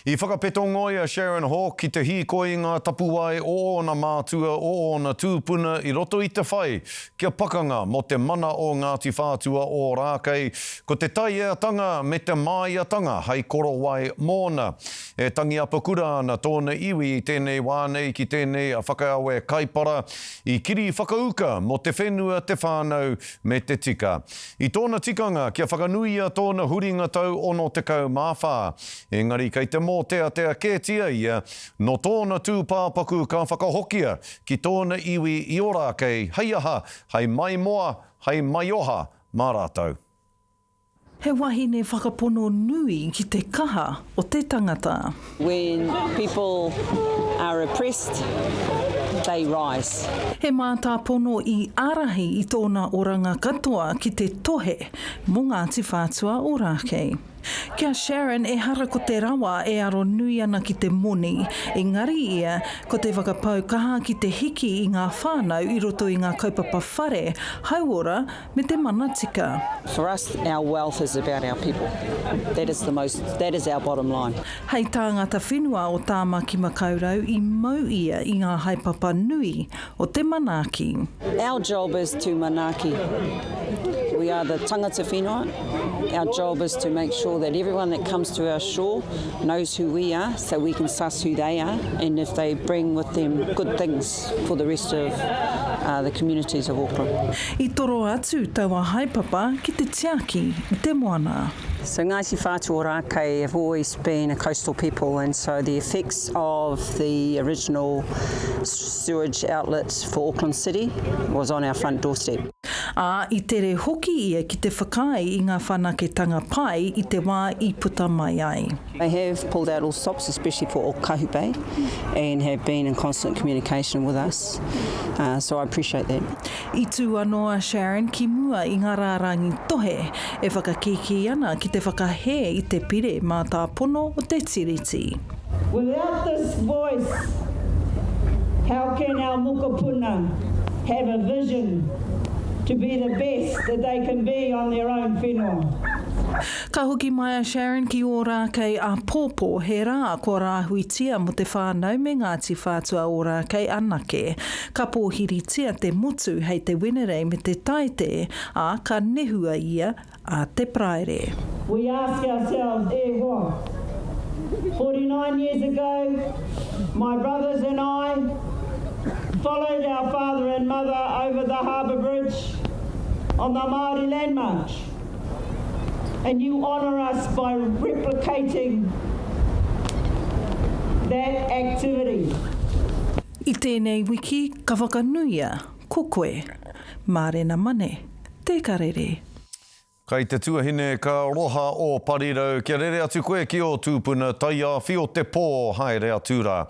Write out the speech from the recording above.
I whakapetongo i a Sharon Hawke ki te hīkoi i ngā tapuwae o ōna mātua, o ōna tūpuna i roto i te whai kia pakanga mō te mana o Ngāti Whātua Ōrākei, ko te taieatanga me te māiatanga hai korowai mōna. E tangi apakura ana tōna iwi i tēnei wā nei ki tēnei whakaawe kaipara i kiri whakauka mō te whenua, te whānau, me te tika. I tōna tikanga kia whakanuia tōna huringa tau 64, engari kei te mōteatea kētia ia, nō tōna tūpāpaku ka whakahokia ki tōna iwi i Ōrākei, hei aha, hei maimoa, hei maioha mā rātou. He wahine whakapono nui ki te kaha o te tangata. When people are oppressed, they rise. He mātāpono i ārahi i tōna oranga katoa ki te tohe mō Ngāti Whātua Ōrākei. Ki a Sharon, ehara ko te rawa e aro nui ana ki te moni, engari ia, ko te whakapau kaha ki te hiki i ngā whānau i roto i ngā kaupapa whare, hauora, me te mana tika. For us, our wealth is about our people. That is the most, that is our bottom line. Hei tāngata whenua o Tāmaki Makaurau i mau ia i ngā haepapa nui o te manaaki. Our job is to manaaki. We are the tangata whenua. Our job is to make sure that everyone that comes to our shore knows who we are so we can suss who they are and if they bring with them good things. benefits for the rest of the communities of Auckland. I toro atu taua haepapa ki te tiaki i te moana. So Ngāti Whātua Ōrākei have always been a coastal people and so the effects of the original sewage outlets for Auckland City was on our front doorstep. Ā, i tere hoki ia ki te whakaae i ngā whanaketanga pai i te wā i puta mai ai. They have pulled out all stops especially for Okahu Bay and have been in constant communication with us so I appreciate that. I tū anō a Sharon ki mua i ngā rārangi tohe e whakakīkī ana ki te whakahē i te pire mātāpono o te Tiriti. Without this voice how can our mokopuna have a vision to be the best that they can be on their own whenua? Ka hoki mai a Sharon ki Ōrākei āpōpō, he rā kua rāhuitia mō te whānau me Ngāti Whātua Ōrākei anake. Ka pōhiritia te motu hei te Wenerei me te Taite, ā, ka nehua ia a te Paraire. We ask ourselves, e hoa, 49 years ago, my brothers and I followed our father and mother over the harbour bridge on the Māori Land March. And you honour us by replicating that activity. I tēnei wiki ka whakanuia ko koe Mārena Mane Te Karere. Kai te tuahine ka roha o Parirau kia rere atu koe ki o tupuna taiawhi o te po haere atu ra.